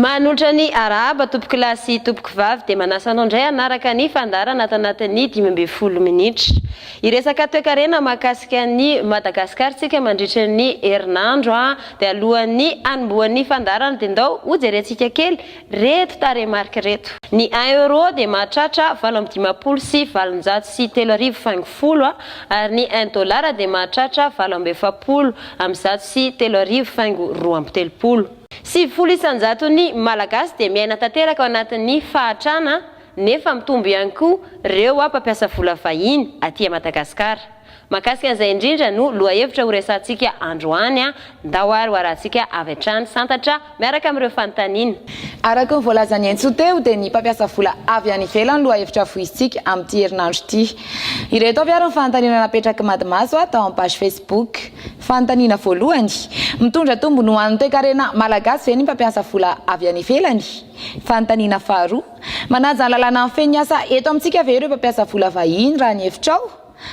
Mahanontra ny arahaba tompokolahy sy tompokovavy dia manasa anao indray hanaraka ny fandaharana ato anatin'ny dimy ambin'ny folo minitra. Hiresaka toekarena mahakasika an'i Madagasikara isika mandritra ny herinandro dia alohan'ny hanombohan'ny fandaharana dia ndao hojerentsika kely Reto tarehimarika reto. Ny un euro dia mahatratra valo amby dimampolo sy valonjato sy telo arivo faingo folo ary ny un dollar dia mahatratra valo amby efapolo amby zato sy telo arivo faingo roa amby telopolo. Sivifolo isanjaton'ny Malagasy dia miaina tanteraka ao anatin'ny fahatrana nefa mitombo ihany koa reo mpampiasa vola vahiny aty Madagasikara. Mahakasika an'izay indrindra no lohahevitra horesahantsika androany. Ndao ary ho arahantsika avy hatrany santatra miaraka amin'ireo fanontaniana. Araka ny voalazan'i Hentso teo dia ny mpampiasa vola avy any ivelany no lohahevitra voizintsika amin'ity herinandro ity. Ireto avy ary ny fanontaniana napetrak'i Madimaso tao amin'ny page Facebook. Fanontaniana voalohany, Mitondra tombony ho an'ny toekarena malagasy ve ny mpampiasa vola avy any ivelany? Fanontaniana faharoa, Manaja ny lalàna mifehy ny asa eto amintsika ve ireo mpampiasa vola vahiny raha ny hevitrao?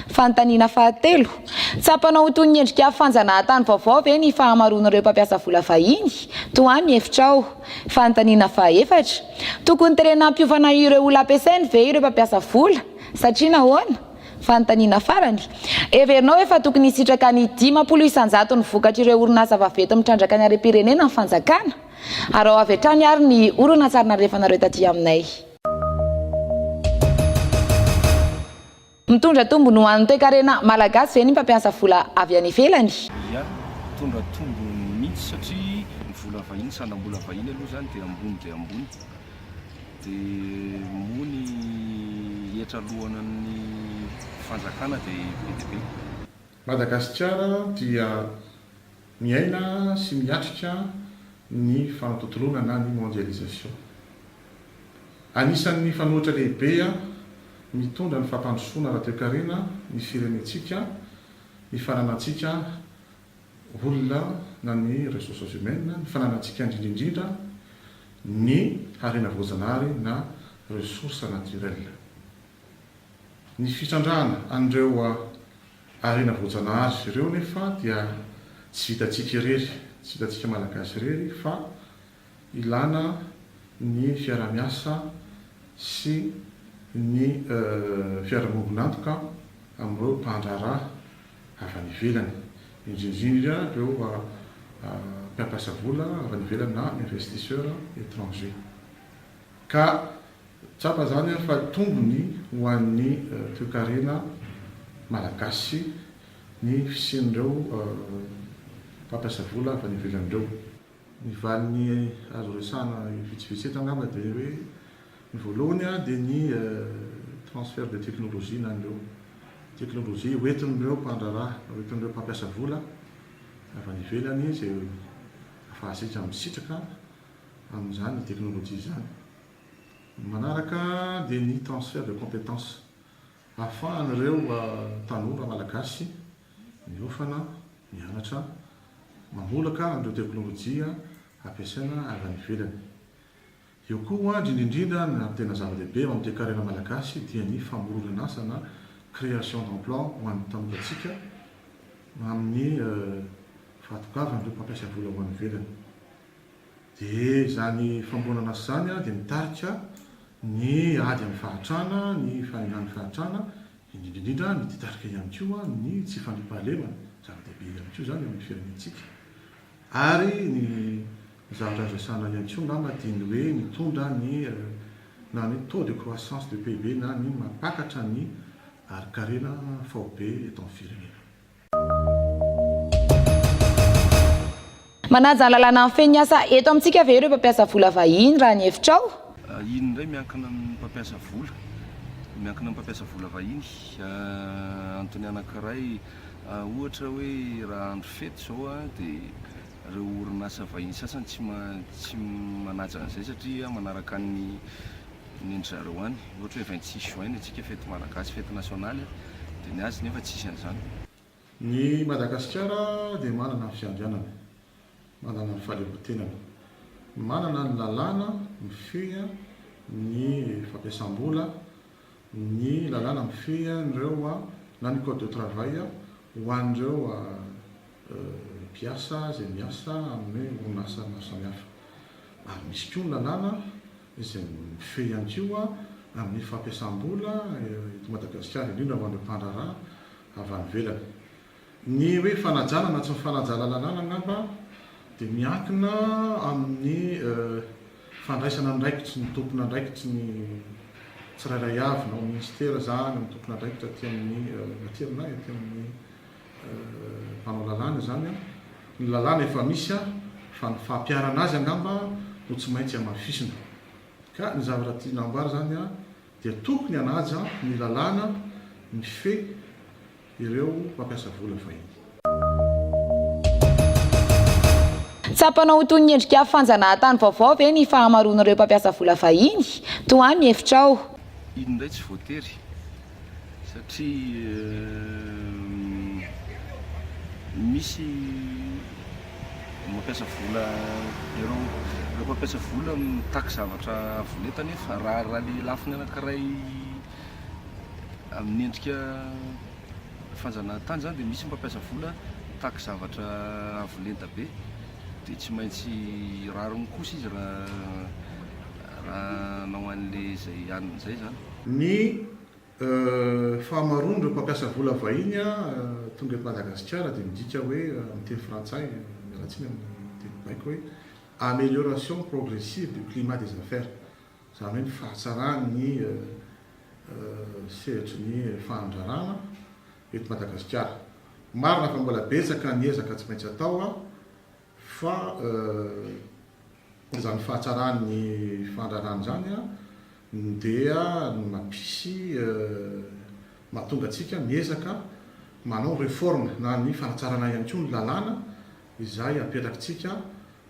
Fanontaniana fahatelo, Tsapanao ho toy ny endrika fanjanahan-tany vaovao ve ny fahamaroan'ireo mpampiasa vola vahiny? Tohano ny hevitrao. Fanontaniana fahaefatra, Tokony tenenina hampiofana ireo olona ampiasainy ve ireo mpampiasa vola? Satria nahoana? Fanontaniana farany, Heverinao ve fa tokony hisitraka ny dimampolo isan-jato ny vokatr'ireo orinasa vaventy mitrandraka ny harem-pirenena ny fanjakana? Araho avy hatrany ary ny horonantsarin'andrefanareo taty aminay. Mitondra tombony ho an'ny toekarena malagasy ve ny mpampiasa vola avy any ivelany? Ia, mitondra tombony mihitsy satria ny vola vahiny, sandam-bola vahiny aloha izany dia ambony dia ambony. Dia moa ny hetra aloana ny fanjakana dia be dia be. Madagasikara dia Miaina sy miatrika ny fanatontoloana na ny mondialisation. Anisan'ny fanohitra lehibe mitondra ny fampandrosoana ara-toekarena ny firenentsika, ny fananantsika olona na ny ressources humaines, ny fananantsika indrindraindrindra ny harena voajanahary na ressources naturelles. Ny fitrandrahana an'ireo. Ary na voajanahary izy ireo nefa dia tsy vitantsika irery, tsy vitantsika Malagasy irery fa ilana ny fiarahamiasa sy ny fiarahamombon'antoka amin'ireo mpandraharaha avy any ivelany, indrindrindra ireo mpiampiasa vola avy any ivelany na investisseurs étrangers. Ka tsapa izany an fa tombony ho an'ny toekarena malagasy ny fisian'ireo mpampiasa vola avy any ivelany ireo. Ny valiny azo resahana vitsivitsy eto angamba dia hoe ny voalohany dia ny transfert de technologie na an'ireo teknolojia ho entin'ireo mpandraharaha, ho entin'ireo mpampiasa vola avy any ivelany izay afahantsika misitraka amin'izany teknolojia izany. Ny manaraka dia ny transfert de compétence ahafahan'ireo tanora malagasy miofana, mianatra, mamolaka an'ireo teknolojia ampiasaina avy any ivelany. Eo koa hoandry indrindrindra ny tena zava-dehibe eo amin'ny toekarena malagasy dia ny famoronan'asa na création d'emploi ho an'ny tanorantsika amin'ny fahatongavan'ireo mpampiasa vola ho any ivelany. Dia izany famboanana azy izany dia mitarika ny ady amin'ny fahantrana, ny fahendran'ny fahantrana, indrindra indrindra mititarika ihany koa ny tsy fandriampahalemana, zava-dehibe ihany koa izany eo amin'ny firenentsika. Ary ny zavatra azo resahana ihany koa angamba dia ny hoe mitondra ny na ny taux de croissance de PIB na ny mampakatra ny harinkarena faobe eto amin'ny firenena. Manaja lalàna mifehy ny asa eto amintsika ve ireo mpampiasa vola vahiny raha ny hevitrao? Iny indray miankina amin'ny mpampiasa vola, miankina amin'ny mpampiasa vola vahiny. Antony anankiray ohatra hoe raha andro fety izao dia ireo orinasa vahiny sasany tsy tsy manaja an'izay satria manaraka ny ny ndry zareo any ohatra hoe vingt six juin ny antsika fety malagasy fety nationaly dia ny azy nefa tsisy an'izany. Ny Madagasikara dia manana ny fiandrianany, manana ny fahaleovantenany, manana ny lalàna mifehy ny fampiasam-bola, ny lalàna mifehy an'ireo na ny code de travail ho an'ireo mpiasa izay miasa amin'ny orinasa maro samihafa ary misy koa ny lalàna izay mifehy ihany koa amin'ny fampiasam-bola eto Madagasikara, indrindra ho an'ireo mpandraharaha avy any ivelany. Ny hoe fanajana na tsy ny fanajana lalàna angamba dia miankina amin'ny fandraisana ny raikitry ny tompon'andraikitry ny tsirairay avy na ao minisitera izany, ny tompon'andraikitra aty amin'ny aterineto, aty amin'ny mpanao lalàna izany an! Ny lalàna efa misy an! Fa ny fampiharana azy angamba no tsy maintsy hamafisina. Ka ny zavatra tiana hamboary izany an! Dia tokony hanaja ny lalàna mifehy ireo mpampiasa vola vahiny. Tsapanao ho toy ny endrika fanjanahatany vaovao ve ny fahamaroan'ireo mpampiasa vola vahiny? Tohano ny hevitrao. Iny indray tsy voatery. satria misy mampiasa vola ireo ireo mampiasa vola mitaky zavatra avo lenta nefa raha raha le lafiny anankiray amin'ny endrika fanjanahantany zany dia misy mampiasa vola mitaky zavatra avo lenta be dia tsy maintsy rariny kosa izy raha Raha hanao an'ilay izay hanina izay izany. Ny fahamaroan'ireo mpampiasa vola vahiny tonga eto Madagasikara dia midika hoe, amin'ny teny frantsay, miala tsiny amin'ny teny baiko, hoe amélioration progressive du climat des affaires, izany hoe ny fahatsaran'ny sehatry ny fandraràna eto Madagasikara. Marina fa mbola betsaka ny ezaka tsy maintsy atao Fa izany fahatsaran'ny fandrarana izany dia no mampisy mahatonga antsika miezaka manao réforme na ny fanatsarana ihany koa ny lalàna izay apetrakintsika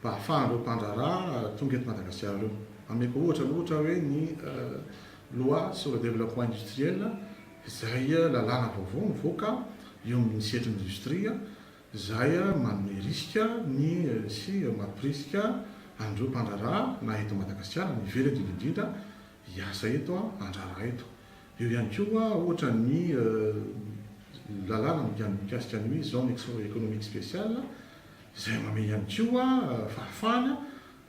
mba hahafahan'ireo mpandraharaha tonga eto Madagasikara ireo. Ameko ohatra aloha ohatra hoe ny loi sur le développement industriel izay lalàna vaovao nivoaka eo amin'ny sehatry ny industrie. Izay manome risika ny sy mampirisika an'ireo mpandraharaha na eto Madagasikara na ivelany indrindra indrindra hiasa eto, handraharaha eto. Eo ihany koa ohatra ny lalàna mikasika ny hoe zone économique spéciale izay manome ihany koa fahafahana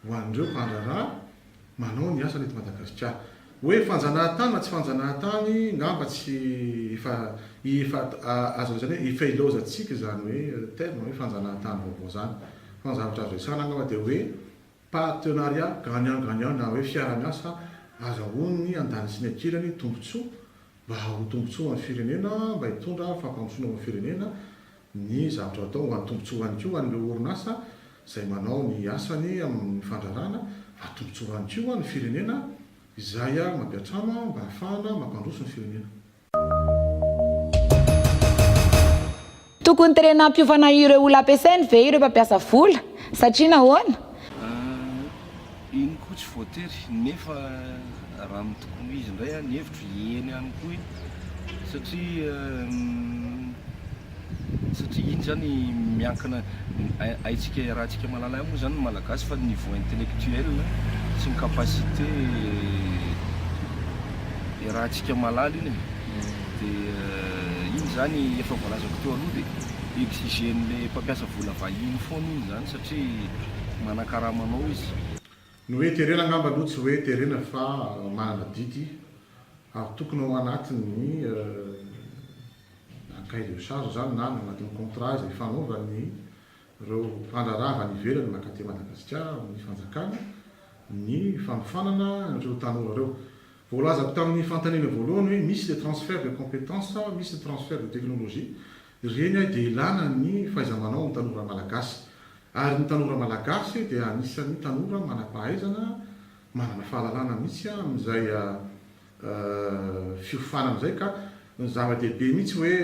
ho an'ireo mpandraharaha manao ny asany eto Madagasikara. Hoe fanjanahantany na tsy fanjanahantany, ngamba tsy efa efa azo lazaina hoe efa ilaozantsika izany hoe terme hoe fanjanahantany vaovao izany. Fa ny zavatra azo resahana angamba dia hoe partenariat gagnant gagnant na hoe fiara-miasa azahoan'ny andaniny sy ny ankilany tombontsoa mba ho tombontsoa ho an'ny firenena, mba hitondra fampandrosoana ho an'ny firenena. ny zavatra hatao mba hatombontsoany koa an'ireo orinasa izay manao ny asany amin'ny fandrarana, hatombontsoany koa ny firenena izay mampiantrano mba hahafahana mampandroso ny firenena. Tokony terena hampiofana ireo olona ampiasainy ve ireo mpampiasa vola? Satria nahoana? Iny koa tsy voatery nefa raha ny tokoa izy indray an, ny hevitro eny ihany koa iny satria satria iny zany miankina haintsika iarahantsika malalay moa zany ny malagasy fa ny niveau intellectuel sy ny capacité iarahantsika malala iny de iny zany efa voalazako teo aloha de exigen'le mpampiasa vola vahiny foana iny zany satria Satria manakarama anao izy. Ny hoe terena angamba aloha tsy hoe terena fa manana didy ary tokony ao anatin'ny na cahier de charge izany na any anatin'ny contrat izay ifanaovan'ireo mpandraharaha avy any ivelany mankaty Madagasikara amin'ny fanjakana ny fanofanana ireo tanora ireo. Voalazako tamin'ny fanontaniana voalohany hoe misy le transfert de compétence sa misy ny transfert de technologie Ireny dia ilana ny fahaiza-manao ny tanora malagasy. Ary ny tanora malagasy dia anisan'ny tanora manam-pahaizana, manana fahalalana mihitsy amin'izay fiofanana izay ka ny zava-dehibe mihitsy hoe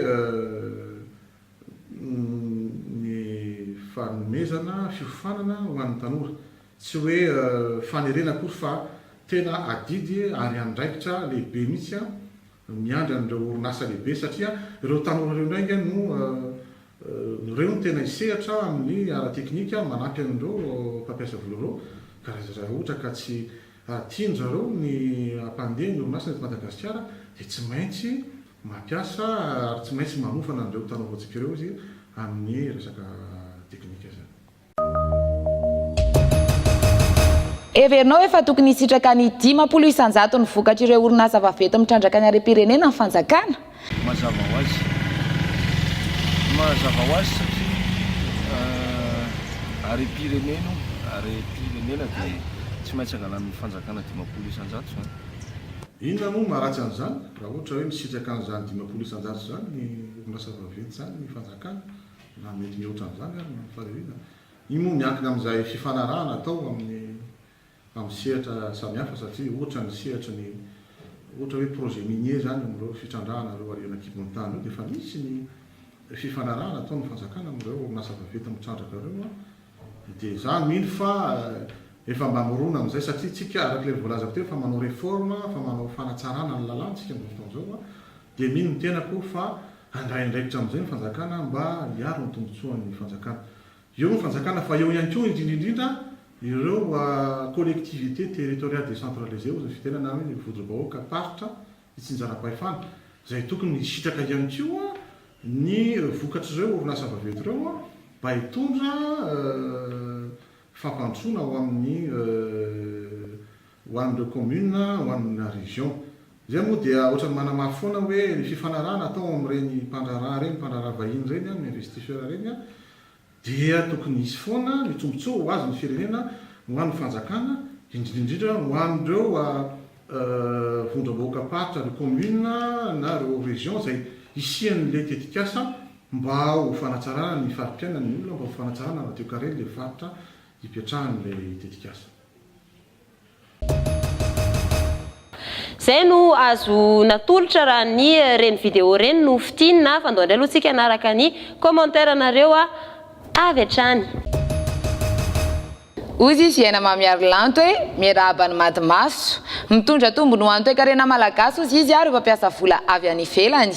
ny fanomezana fiofanana ho an'ny tanora. Tsy hoe fanerena akory fa tena adidy ary andraikitra lehibe mihitsy no miandry an'ireo orinasa lehibe satria ireo tanora ireo indray ange no ireo no tena hisehatra amin'ny ara-teknika manampy an'ireo mpampiasa vola ireo ka raha ohatra ka tsy tian-dry zareo ny hampandeha ny orinasany eto Madagasikara dia tsy maintsy mampiasa ary tsy maintsy manofana an'ireo tanora voantsika ireo izy amin'ny resaka teknika izany. Heverinao efa tokony hisitraka ny dimampolo isan-jato ny vokatr'ireo orinasa vaventy mitrandraka ny harem-pirenena ny fanjakana? Mazava ho azy. Mazava ho azy satria harem-pirenena io, harem-pirenena dia tsy maintsy angalan'ny fanjakana dimampolo isan-jato izany. Inona moa no maharatsy an'izany raha ohatra hoe misitraka an'izany dimampolo isan-jato izany ny orinasa vaventy izany ny fanjakana? na mety mihoatra an'izany ary ny fahoriana, io moa miankina amin'izay fifanarahana atao amin'ny amin'ny sehatra samihafa satria ohatra ny sehatry ny ohatra hoe projet minier izany amin'ireo fitrandrahana ireo alien an-kibon'ny tany ireo dia efa misy ny fifanarahana ataon'ny fanjakana amin'ireo orinasa vaventy mitrandraka ireo an, dia izaho mino fa efa mba mirona amin'izay satria isika arak'ilay voalazako teo efa manao réforme, efa manao fanatsarana ny lalàna isika amin'izao fotoana izao an. Dia mino ny tenako fa handray andraikitra amin'izay ny fanjakana mba hiaro ny tombotsoan'ny fanjakana. Eo ny fanjakana fa eo ihany koa indrindra indrindra ireo collectivités territoriales décentralisées hoy ny fitenana hoe ny vodobahoaka faritra itsinjaram-pahefana izay tokony hisitraka ihany koa ny vokatr'ireo orinasa vaventy ireo mba hitondra fampandrosoana ho amin'ny ho an'ireo commune, ho an'ny région. Izay moa dia ohatran'ny manamafy foana hoe ny fifanarahana atao amin'ireny mpandraharaha ireny, mpandraharaha vahiny ireny, amin'ny investisseur ireny dia tokony hisy foana ny tombotsoa ho azon'ny firenena, ho an'ny fanjakana, indrindra indrindra ho an'ireo vondrom-bahoakam-paritra, ireo commune na ireo région izay hisian'ilay tetikasa mba ho fanatsarana ny fari-piainan'ny olona, mba ho fanatsarana radio-karena ilay faritra ipetrahan'ilay tetikasa. Zay no azo natolotra raha ny reny video reny no fitinina fa ndao ndray aloha tsika hanaraka ny commentaire nareo avy hatrany. Hozy i Fiaina Mamiarilanto e, miarahaba an'i Madimaso. Mitondra tombony ho an'ny toekarena malagasy hozy izy ary mpampiasa vola avy any ivelany.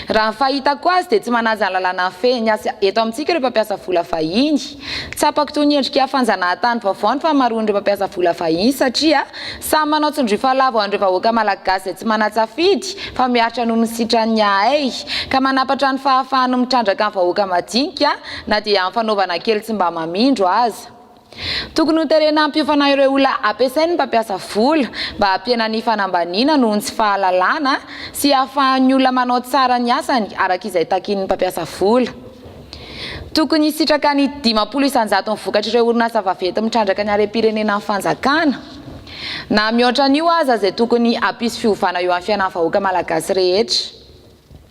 Raha ny fahitako azy dia tsy manaja ny lalàna mifehy ny asa eto amintsika ireo mpampiasa vola vahiny. Tsapako toy ny endrika fanjanahantany vaovao ny fahamaroan'ireo mpampiasa vola vahiny satria samy manao tsindrifa lava ho an'ireo vahoaka malagasy izay tsy manan-tsafidy fa miaritra noho ny sitran'ny ahay ka manampatra ny fahafahany mitrandraka ny vahoaka madinika na dia amin'ny fanaovana kely tsy mba mamindro aza. Tokony ho terena hampiofana ireo olona ampiasain'ny mpampiasa vola mba hampihenana ny fanambaniana noho ny tsy fahalalana sy hahafahan'ny olona manao tsara ny asany araka izay takin'ny mpampiasa vola. Tokony hisitraka ny dimampolo isan-jaton'ny vokatr'ireo orinasa vaventy mitrandraka ny harem-pirenenan'ny fanjakana, na mihoatra an'io aza, izay tokony hampisy fiovana eo amin'ny fiainan'ny vahoaka malagasy rehetra.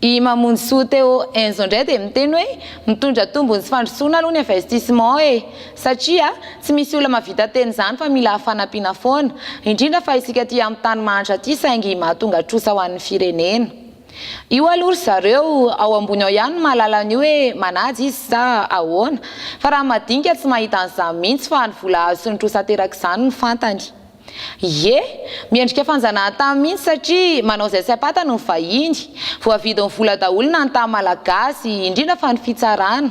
I Mamonjisoa Théo Enzo indray dia miteny hoe mitondra tombony sy fandrosoana aloha ny investissement e! satria tsy misy olona mahavita tena izany fa mila fanampiana foana, indrindra fa isika aty amin'ny tany mahantra aty saingy mahatonga trosa ho an'ny firenena. Io aloha ry zareo ao ambony ao ihany no mahalala an'io hoe manaja izy sa ahoana fa raha ny madinika tsy mahita an'izany mihitsy fa ny vola azo sy ny trosa aterak'izany no fantany. Ie, miendrika fanjanahantany mihitsy satria manao izay tsy ampatany ny vahiny, voavidin'ny vola daholo na ny tany malagasy, indrindra fa ny fitsarana.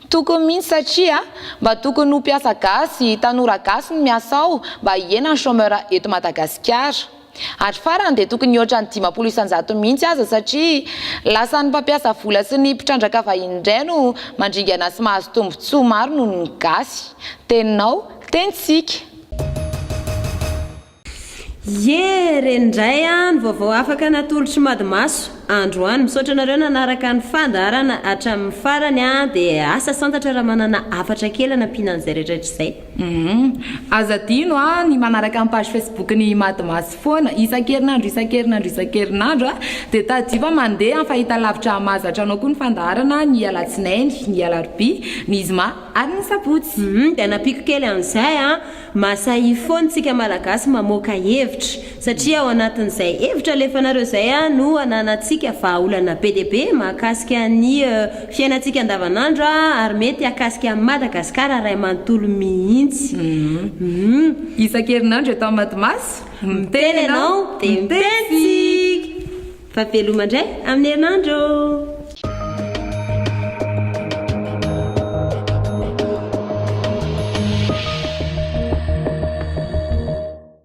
Tokony mihitsy satria mba tokony ho mpiasa gasy, tanora gasy no miasa ao mba hihena ny chômeur eto Madagasikara. Ary farany dia tokony hihoatra ny dimampolo isan-jato mihitsy aza satria lasa ny mpampiasa vola sy ny mpitrandraka vahiny indray no mandringana sy mahazo tombotsoa maro noho ny gasy. Teninao, tenintsika. Ye! Re indray an ny vaovao afaka natolotry Mady Maso androany. Misaotra anareo nanaraka ny fandaharana hatramin'ny farany an dia asa santatra raha manana hafatra kely hanampiana an'izay rehetra rehetra izay. Humm. Aza adino a ny manaraka ny page facebook ny Mad Mass foana isan-kerinandro isan-kerinandro isan-kerinandro a. Dia tadidio fa mandeha amin'ny fahitalavitra hahamahazatra anao koa ny fandaharana ny alatsinainy, ny alarobia, ny zoma ary ny sabotsy. Humm dia nampiako kely an'izay a. Mahasahia foana isika malagasy mamoaka hevitra. satria ao anatin'izay hevitra alefanareo izay no ananantsika vahaolana be dia be mahakasika ny fiainantsika andavanandro ary mety hahakasika an'i Madagasikara iray manontolo mihitsy. Humm. Isan-kerinandro eto amin'ny Matimaso, miteny ianao dia miteny tsika! Fa veloma indray amin'ny herinandro!